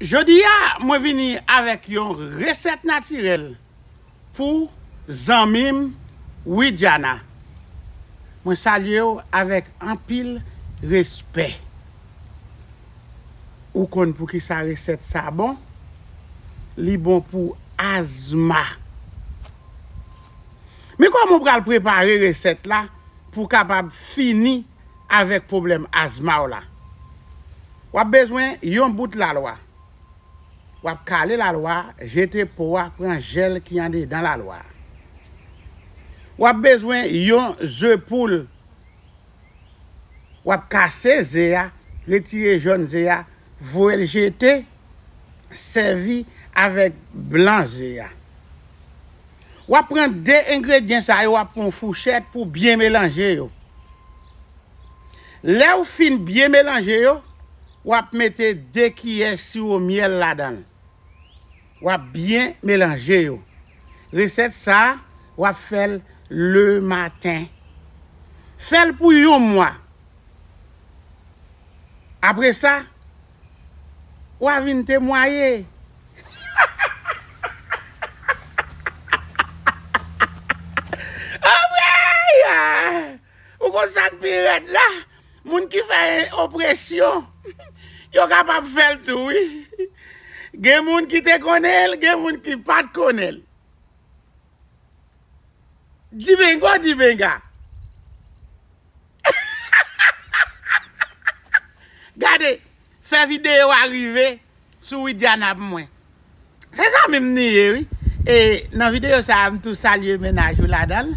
Jodi a mwen vini avèk yon resèt natirèl pou zanmim Widiana mwen salyew avèk anpil respè ou konn poukisa resèt sa bon li bon pou azma men kòman ou pral prepare resèt la pou kapab fini avèk pwoblèm azma w la. W ap bezwen yon bout lalwa. W ap kale lalwa a, jete po a, pran jèl ki andedan lalwa a. W ap bezwen yon ze poul. W ap kase ze a, retire jòn ze a, voye l jete, sèvi avèk blan ze a. Wap pran 2 engredyen sa yo wap pran yon fouchèt pou byen melanje yo. Lèw fin byen melanje yo, wap mete 2 kiyè siwo myèl ladanl. Wap byen melanje yo. Resèt sa wap fèl le maten. Fèl pou yon mwa. Apresa Wa vin temwaye. Anmweyy! Ou konn sak pi rèd la? Moun ki fè opresyon, yo kapab fèl tou wi. Gen moun ki te konnen l, gen moun ki pat konnen l. Divengo divenga. Gade, fè video a rive sou Widiana pou mwen. Se zanmi m li ye wi. E nan video sa a m tou salye mennaj ou ladan l.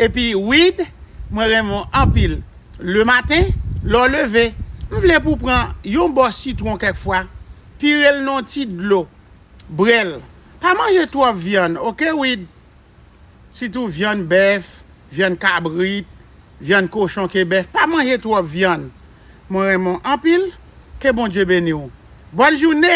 Epi Wid, mwen renmen w anpil. Le maten, lè w leve, m vle pou w pran yon bò sitwon kèk fwa, pire l nan yon ti dlo. Brel. Pa manje twòp vyann ok Wid, sitou vyann bèf, vyann kabrit, vyann kochon ke bèf, pa manje twòp vyann. Mwen renmen w anpil, ke Bondye beni w. Bòn joune!